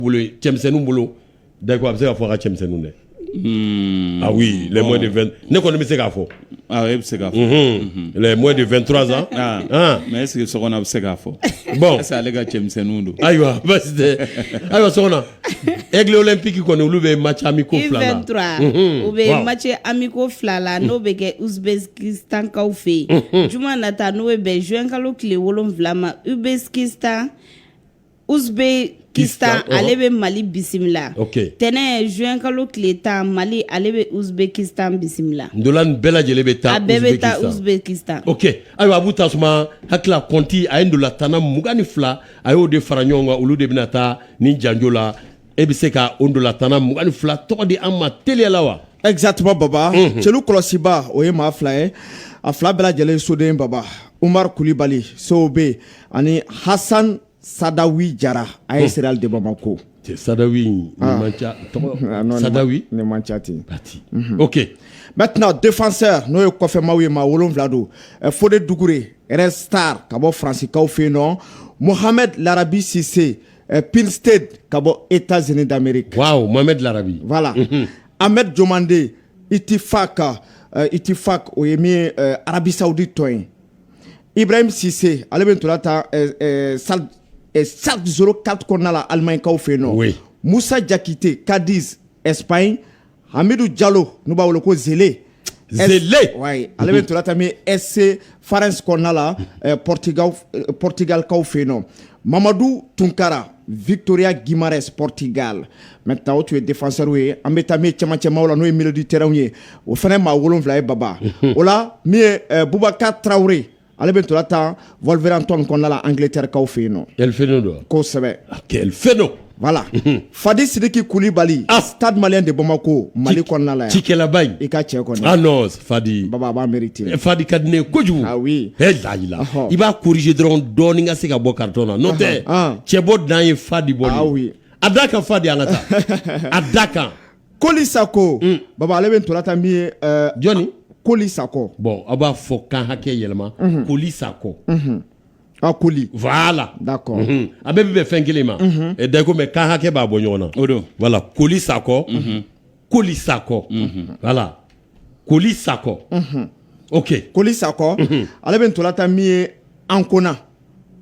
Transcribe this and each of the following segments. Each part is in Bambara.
bolo cɛmisɛnninw bolo da a bɛ se ka fɔ ka cɛmisɛnninw dɛ a lamɔ de fɛn ne kɔni bɛ se k'a fɔ e bɛ se k'a fɔ lamɔ de fɛn turansan mɛ e sigi so a bɛ se k'a fɔ baw ale ka cɛmisɛnninw don ayiwa basi ayiwa so e tilen pki kɔni olu bɛ ma caman ko fila u bɛ ma cɛ an bɛ ko fila la n'o bɛ kɛ uzbeki tankaw fɛ yen j na taa n'o bɛ bɛn zkalo tile wolon wolonwula ma u bɛ tan Uzbekistan ale bɛ mali bisimila tɛnɛn zuwɛnkalo tile tan mali ale bɛ uzbekistan bisimila ntola nin bɛɛ lajɛlen bɛ taa bɛɛ bɛ taa uzbekistan ok ayiwa a bɛ tasuma hakili kɔnti a ye ntolatanna mugan ni fila a y'o de fara ɲɔgɔn kan olu de bɛna taa ni janjo la e bɛ se ka o ntolatanna mugan ni fila tɔgɔ di an ma teliya la wa exactement baba celu kɔlɔsibaa o ye maa fila ye a fila bɛɛ lajɛlen soden baba umaru kulibali sobe ani hasan sadawi jara AS réal de bamako sadawi cati ok maintenant défenseur n'o ye kɔfɛmaw ye maa wolonwula don fode dukure red star ka bɔ faransikaw fɛ yen nɔ mohamed larabi sise ɛ peresite ka bɔ e taz dame mame dilanrabi wala an bɛ jɔnden i tɛ fa ka i tɛ fa o ye min arabisa di tɔn yen i bɛ misi ale bɛ tora ta salisoro kari kɔnɔna alimainkaw fɛ yen nɔ musa jakite kadi esp in Hamidu jalo n'u b'a wele ko zele zele ale bɛ ntola tan min SC farense kɔnɔna la porotigalikaw fɛ yen nɔ mamadu tunkara vitoria guimaraes porotigali maintenant o tun ye défenseurw ye an bɛ taa min ye cɛmancɛmaw la n'o ye milieu de terrainw ye o fana maa wolonwula ye baba o la min ye bubakari tarawele ye Ale bɛ ntola tan wolverhampton kɔnɔna la angiletɛrikaw fɛ yen nɔ kɛlɛfɛn don kosɛbɛ kɛlɛfɛn don voilà fadi sidiki kulibali stade malien de bamako mali kɔnɔna la cikɛlaba i ka cɛ kɔni ah non fadi baba b'a mériter fadi ka di ne ye kojugu lahila i b'a corriger dɔrɔn dɔɔnin ka se ka bɔ carton na n'o tɛ cɛ bɔ dan ye fadi bolo a da kan fadi an ka taa a da kan koli sakɔ mm. baba ale bɛ ntola tan min ye eh, jɔnni koli sakɔ bɔn aw b'a fɔ kan hakɛ yɛlɛma mhm. koli sakɔ mhm. a koli voilà d'accord mhm. a bɛɛ bɛ bɛn fɛn kelen ma eh, d'accord mais kan hakɛ b'a bɔ ɲɔgɔn na o don voilà koli sakɔ koli sakɔ voilà koli sako ok koli sako ale bɛ ntola tan min ye ankona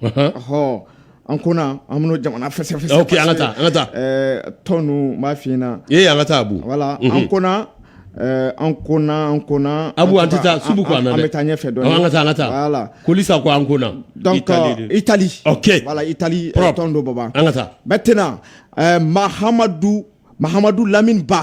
ɔhɔ ankona an bɛn'o jamana fɛsɛfɛsɛ ok an ka taa an ka taa tɔn ninnu n b'a f'i ɲɛna ee an ka taa abu voilà ankona ankona ankona abu an tɛ taa sugu kɔnɔ an bɛ taa ɲɛfɛ dɔɔnin an ka taa an ka taa voilà koli sako ankona donc itali ok voilà itali tɔn don baba an ka taa maintenant mahamadu mahamadu lamini ba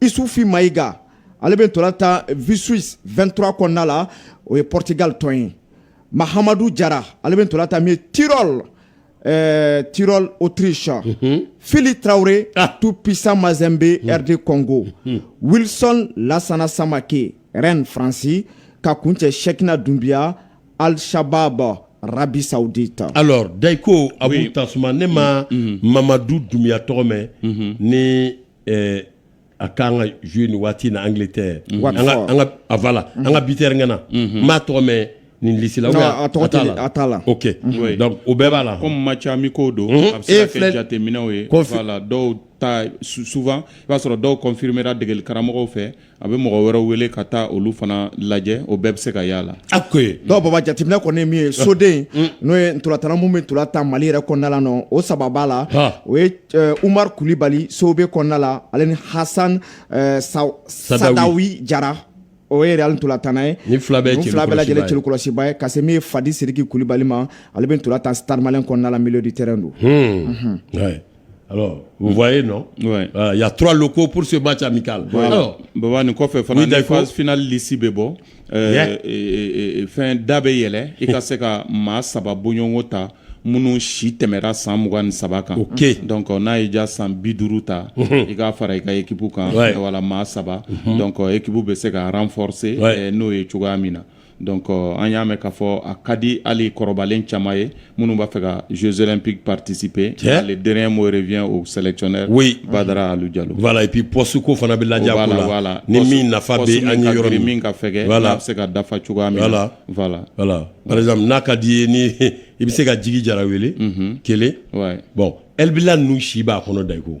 Isufi Mayiga ale bɛ tola tan Viseu vingt-trois kɔnɔna la o ye porotigali tɔn ye mahamadu jara ale bɛ tola tan Tyrol Tyrol Autriche fili tarawele Tout Puissant Mazembe RD Congo Wilson lasana samakɛ Rennes faransi ka kuncɛ sɛkina dunbiya Al-Shabab Arabie Saoudite alors dayiko abu tasuma ne ma mamadu dunbiya tɔgɔ mɛn ni ɛɛ a kan ka jouer nin waati na Angleterre an ka an ka a voilà an ka buteur ŋana n m'a tɔgɔ mɛn nin liste la ou Non, bien a tɔgɔ tɛ- a t'a la. ok Oui. donc o bɛɛ b'a la comme match amicaux don Mhm. a bɛ se E ka filɛ- kɛ jateminɛw ye Confi- voilà dɔw ta sou- souvent i b'a sɔrɔ dɔw confirmera degeli karamɔgɔw fɛ a bɛ mɔgɔ wɛrɛ wele ka taa olu fana lajɛ o bɛɛ bɛ se ka y'a la ok donc baba jateminɛ kɔni min ye soden n'o ye tolatanna minnu bɛ tola tan mali yɛrɛ kɔnɔna la nɔ o saba b'a la o ye umaru kulibali COB kɔnɔna la ale ni hasan sadawi jara o ye Real tolatanna ye nin fila bɛɛ lajɛlen celu kɔlɔsibaa ye ka se min ye fadi siriki kulibali ma ale bɛ tola tan Stade Malien kɔnɔna la milieu de terrain don Alors, vous voyez, non ouais. euh, Il y a trois locaux pour ce match amical. Ouais. Alors, Baba, ni kɔfɛ fana ni phase finale lisi bɛ bɔ fɛn da bɛ yɛlɛ i ka se ka maa saba bɔɲɔgɔnko ta minnu si tɛmɛra san mugan ni saba kan okay. donc n'a y'i diya san bi duuru ta i k'a fara i ka ekipu kan voilà maa saba donc ekipu bɛ se ka renforcer n'o ye cogoya min na Don an y'a mɛn k'a fɔ a ka di ali kɔrɔbalen caman ye minnu b'a fɛ ka zzoɛrɛp paritesipye cɛ ale d moriy o sɛcɛ we badara ali jalo ipi pɔsuko fana bɛ la la la ni min nafa yɔrɔ min ka fɛ bɛ se ka dafa cogoya n'a ka di ye ni i bɛ se ka jigi jara wele kelen bɔn e bɛ nu si b'a kɔnɔ da iko